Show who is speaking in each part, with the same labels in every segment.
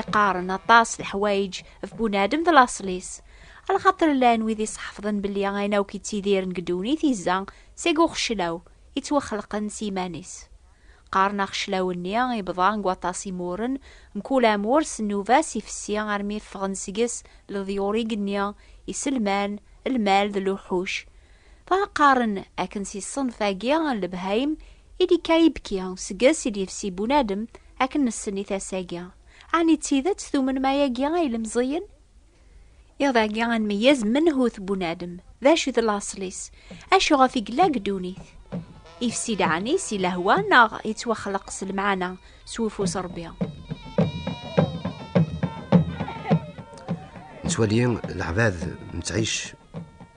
Speaker 1: Iqaren aṭas leḥwayeǧ ɣef bunadem d laṣel-is. Ala xaṭer llan wid isḥefḍen belli ayen akk ittidiren deg ddunit izza seg uxeclaw ittwaxelqen s yiman-is. Qqaren axeclaw-nni ibḍa deg waṭas imuren, mkul amur s nnuba-s ifessi armi ffɣen seg-s leḍyur igenni, iselman, lmal d luḥuc. Dɣa qqaren akken si ṣṣenf-agi n lebhayem i d-ikka ibki, seg-s i d-yefsi bunadem, akken nessen i tasa-agi. Ɛni d tidet tumnem ayagi a ilemẓiyen? Iḍ agi ad nmeyyez menhu-t bunadem, d acu i d laṣel-is, acu ɣef i yella deg ddunit. Ifsi-d ɛni si lehwa neɣ yettwaxleq s lemɛana, s wufus Rebbi? Nettwali
Speaker 2: leɛbad nettɛic.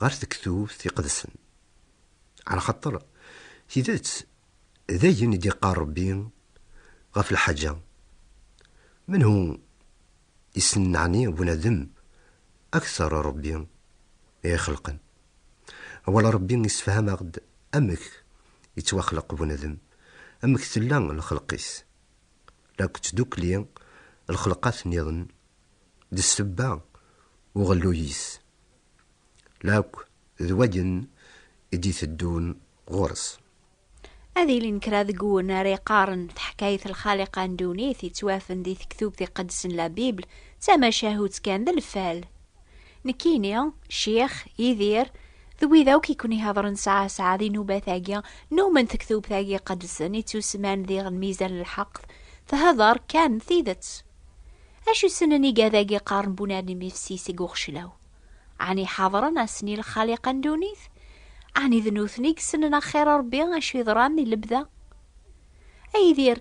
Speaker 2: ɣer tektubt iqedsen. Ɛla xaṭer, tidet, d ayen i d-iqqar Rebbi ɣef lḥaǧa. Menhu i ssnen ɛni bunadem akteṛ n Rebbi i ixelqen? Awal Rebbi issefham-aɣ-d amek ittwaxleq bunadem, amek tella lxelq-is, la ttdukli lxelqat nniḍen d ssebba uɣelluy-is. Lakk d wayen i d-iteddun ɣur-s. Ad
Speaker 1: ilin kra deg wun ara iqqaren taḥkayt Lxaliqa n ddunit yettwafen di tektubt iqedsen La Bible d tamacahut kan d lfal. Nekkini, Ccix, Yidir, d wid akk i ken-ihedren sɛa sɛa di nnubat-agi numen tektubt-agi iqedsen ittusemman diɣ Lmizan n lḥeqq, theddar kan tidet. Acu ssnen igad-agi qqaren bunar n imifsi seg uxeclaw? Ɛni ḥadren ass-nni lxaliqa n ddunit? Ɛni d nutni i yessnen axir n Rebbi acu yeḍran di lebda? A Yidir,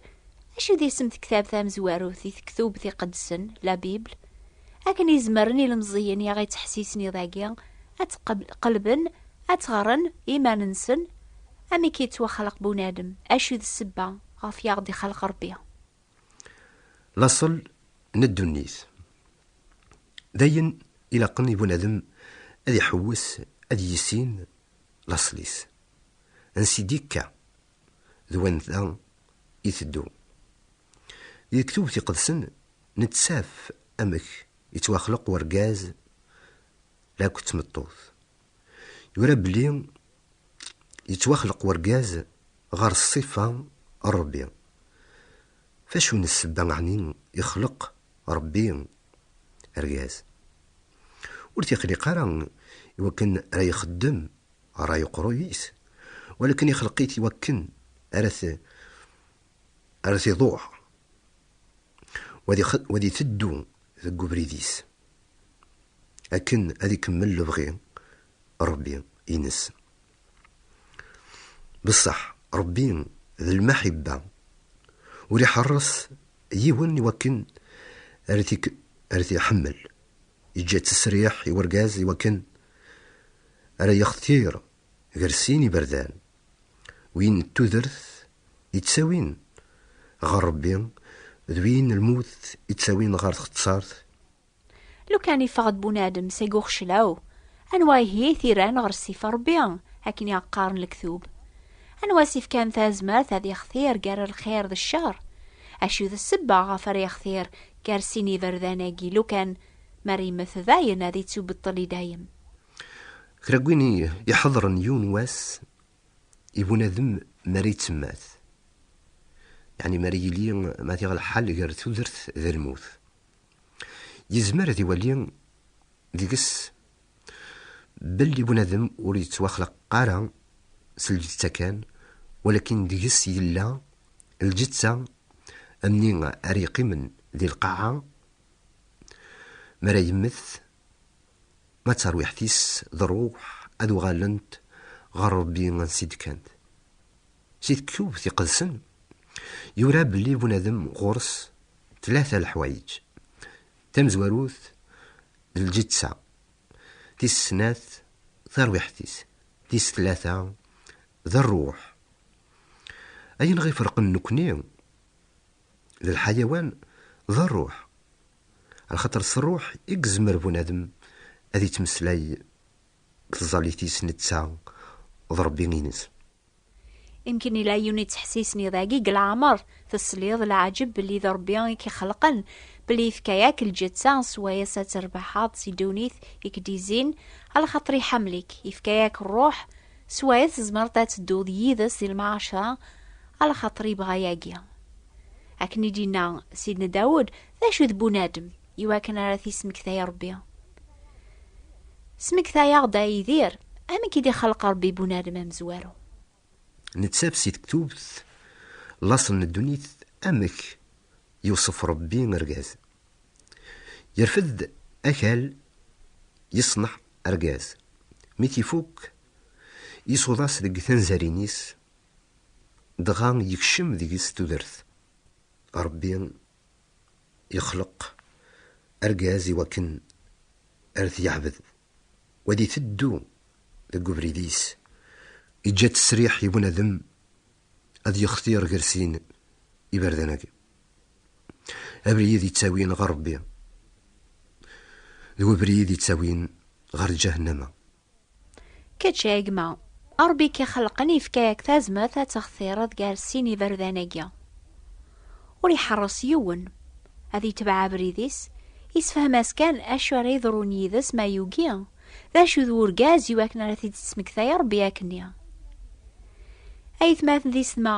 Speaker 1: acu d isem tektabt tamezwarut di tektubt iqedsen, la Bible, akken i zemren ilemẓiyen i aɣ-ittḥessisen iḍ-agi ad tt-qelben, ad tt-ɣren i yiman-nsen? Amek i yettwaxleq bunadem? Acu d ssebba ɣef i aɣ-d-ixleq Rebbi?
Speaker 2: Laṣel n ddunit. D ayen ilaqen i bunadem ad iḥewwes ad yissin laṣel-is. Ansi d-ikka, d wanda iteddu. Deg Tubt Iqedsen nettaf amek ittwaxleq urgaz la akked tmeṭṭut. Yura belli yettwaxleq urgaz ɣer ṣṣifa n Ṛebbi. F acu n ssebba ɛni ixleq Ṛebbi argaz? Ur t-ixliq ara i wakken ara ixeddem ṛṛay uqruyis, walaken ixleq-it i wakken ara t ar as iḍuh wa di teddu deg ubrid-is akken ad ikemmel lebɣi Rebbi ines. Beṣṣeḥ Rebbi d lmaḥibba ur iḥeṛṛes yiwen i wakken ar t-iḥemmel, yeǧǧa-tt ssriḥ i wergaz i wakken ara yextir ger sin iberdan, win n tudert i ttawin ɣer Rebbi d win n lmut i ttawin ɣer txettart.
Speaker 1: Lukan iffeɣ-d bunadem seg uxeclaw, anwa ihi i t-irran ɣer ssif n Rebbi, akken i aɣ-qqaren lektub? Anwa i s-ifkan tazmert ad yextir gar lxir d ccer? Acu d ssebba ɣef ara yextir gar sin iberdan-agi lukan mer yemmet dayen ad ittubeṭṭel i dayem? Kra
Speaker 2: gwin iḥeḍren yiwen wass i bunadem mara yettemmat. Yeɛni mara yili ma diɣ lḥal gar tudert d lmut. Yezmer ad iwali deg-s belli bunadem ur yettwaxlaq ara s lǧetta kan, walakin deg-s yella lǧetta amni ara yeqqimen di lqaɛa mara yemmet Ma d tarwiḥt-is d rruḥ ad uɣalent ɣer Rebbi ansi d-kkant. Si tekkubt iqedsen yura belli bunadem ɣur-s tlata leḥwayeǧ, tamezwarut d lǧeţţa, tis snat tarwiḥt-is, tis tlata d rruḥ. Ayen ɣ-iferqen nekkni d lḥayawan d rruḥ, Ar xaṭer s ṛṛuḥ i yezmer bunadem ad yettmeslay deg tẓallit-is netta d Ṛebbi-ines.
Speaker 1: Imekn yella yiwen yettḥessisen i dagi deg leɛmer tesliḍ leɛǧeb belli d Ṛebbi i k-ixelqen, belli yefka-ak lǧetta s wayes ad terbeḥeḍ si ddunit i k-d-izzin, ar xaṭer iḥemmel-ik, yefka-ak ṛṛuḥ s wayes tzemreḍ ad tedduḍ yid-s di lmɛaceṛa, ar xaṭer yebɣa yagi. Akken i d-inna Sidna Dawud, d acu d bunadem, iwakken ara t-ismektay Rebbi? Smektay-aɣ-d a Yidir, amek i d-ixelq Rebbi bunadem amezwaru?
Speaker 2: Nettaf si tektubt, laṣel n ddunit, amek yewṣef Rebbi argaz. Yerfed-d akal, yeṣneḥ argaz. Mi t-ifuk, isuḍ-as deg tanzarin-is, Dɣa yekcem deg-s tudert. Ṛebbi yexleq argaz i wakken ar t-yeɛbed, u ad iteddu deg ubrid-is. Yeǧǧa ttesriḥ i bunadem ad yextir ger sin iberdan-agi. Abrid yettawin ɣer Ṛebbi d webrid yettawin ɣer lǧahennama.
Speaker 1: Kečč a gma, Ṛebbi k-ixelqen yefka-ak tazmert ad textireḍ gar sin iberdan-agi. Ur iḥeṛṛes yiwen ad itbeɛ abrid-is, isefhem-as kan acu ara yeḍrun yid-s ma yugi, d acu d urgaz i wakken ara t-id-tesmektay Ṛebbi akkenni. Ayetmaten d isetma,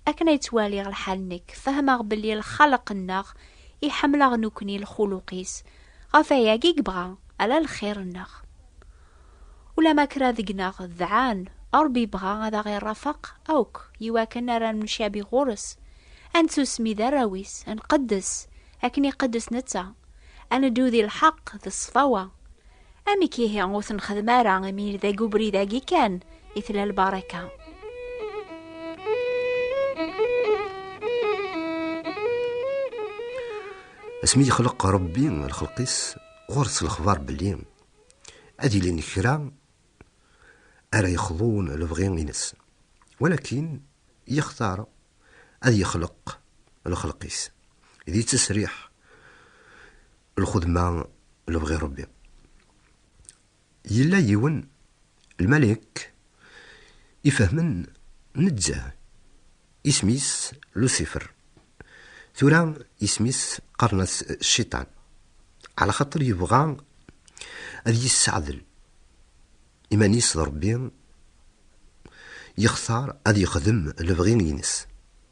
Speaker 1: akken ay ttwaliɣ lḥal nekk, fehmeɣ belli lxaleq-nneɣ iḥemmel-aɣ nekkni lxuluq-is, Ɣef wayagi yebɣa ala lxir-nneɣ. Ulamma kra deg-neɣ dɛan, Ṛebbi yebɣa ad aɣ-iṛafeq akk i wakken ara nemcabi ɣur-s, ad nettusmi d arraw-is, ad nqeddes akken iqeddes netta, ad neddu di lḥeqq d ṣṣfawa. Amek ihi ur t-nexdem ara imi deg ubrid-agi kan i tella lbaṛaka?
Speaker 2: Asmi yexleq Rebbi lxelq-is, ɣur-s lexbar belli ad ilin kra ara yexḍun lebɣi-ines, walakin yextar ad yexleq lxelq-is, d yettesriḥ lxedma lebɣi Rebbi. Yella yiwen, lmalek, ifehmen nezzeh, isem-is Lusifer, tura isem-is qqaren-as Cciṭan, ɛla xaṭer yebɣa ad yisseɛdel iman-is d Ṛebbi, yextar ad yexdem lebɣi-ines,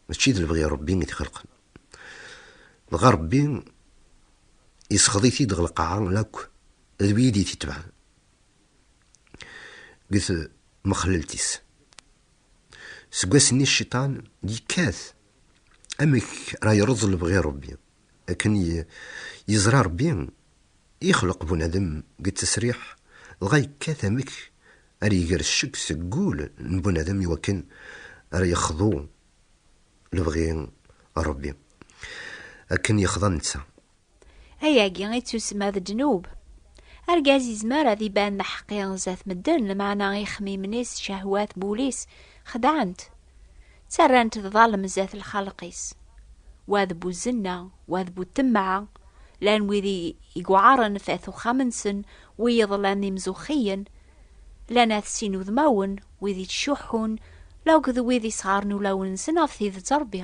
Speaker 2: mačči d lebɣi n Ṛebbi i t-ixelqen. Dɣa Ṛebbi isexḍit-id ɣer lqaɛa n akk. d wid i t-itebɛen deg tmexlelt-is. Seg wass-nni cciṭan yekkat amek ara yeṛṛeẓ lebɣi n Ṛebbi, akken yeẓra Ṛebbi ixleq bunadem deg ttesriḥ, dɣa yekkat amek ara iger ccek seg wul n bunadem i wakken ara yexḍu lebɣi n Ṛebbi, akken yexḍa netta. Ayagi
Speaker 1: i ttusemma d ddnub. Argaz izmer ad iban d aḥeqqi zdat medden, lmeɛna ixmimen-is, cehwat n wul-is, xedɛen-t. Ttarran-t d ḍalem zdat lxalq-is. Wa d bu zzenna, wa d bu temɛa, llan wid i iweɛren f at uxxam-nsen, wiyeḍ llan d imzuxxiyen, llan at sin udmawen, wid ittcuḥḥun, lauked wid isɣaren ulawen-nsen ɣef tidet Rebbi.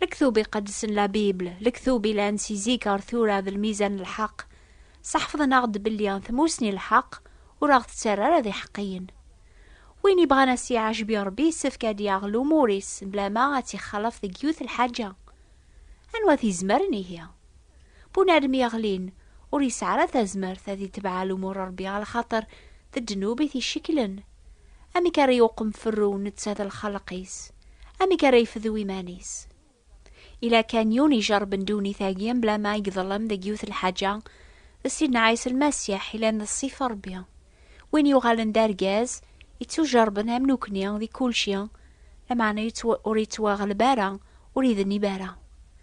Speaker 1: Lektub iqedsen la Bible, lektub ilan si zik ar tura d lmizan n lḥeq, seḥfḍen-aɣ-d belli tmusni n lḥeq ur aɣ-tettarra ara d iḥeqqiyen. Win ibɣan a s-iɛejbi Rebbi yessefk ad yaɣ lumur-is blama ad tt-ixalaf deg yiwet lḥaǧa. Anwa t-izemren ihi? Bunadem yeɣlin ur yesɛi ara tazmert ad itebɛa lumuṛ n Ṛebbi ɣer lxaṭer d ddnub i t-icekklen. Amek ara iwqem ferru netta d lxelq-is? Amek ara ifdu iman-is? Ila kan yiwen ijeṛṛben ddunit-agi mebla ma iḍellem deg yiwet lḥaǧa, d Sidna Ɛisa Lmasiḥ yellan d Ṣṣif n Ṛebbi. Win yuɣalen d argaz, ittujeṛṛben am nekni di kulci, lameɛna ur ittwaɣleb ara, ur idnib ara.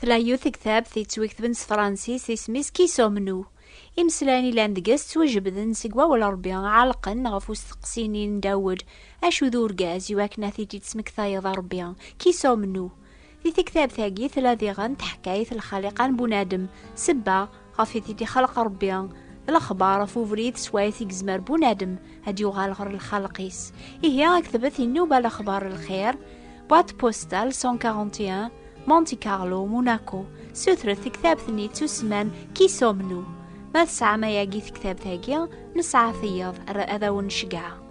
Speaker 3: Tella
Speaker 1: yiwet tektabt yettwiketben s Fransis isem-is Qui sommes-nous? Imeslayen yellan deg-s ttwajebden seg wawal n Rebbi, ɛellqen ɣef usteqsi-nni n Dawed, Acu d urgaz iwakken ad t-id-tesmektayeḍ a Rebbi? Qui sommes-nous? Di tektabt-agi tella diɣen teḥkayt lxaliqa n bunadem, sebba, ɣef i di xalq Rebbi lexbar ɣef ubrid s wayt i yezmer bunadem ad yuɣal ɣer lxalq-is. Ihi aktebet inuba lexbar lxir, boîte postale 141, Monte Carlo, Monaco, sutret tektabt-nni tusman Kisomnu. Ma tesɛam ayagi tektabt-agi, nesɛa tiyeḍ ad awen-ncegɛa.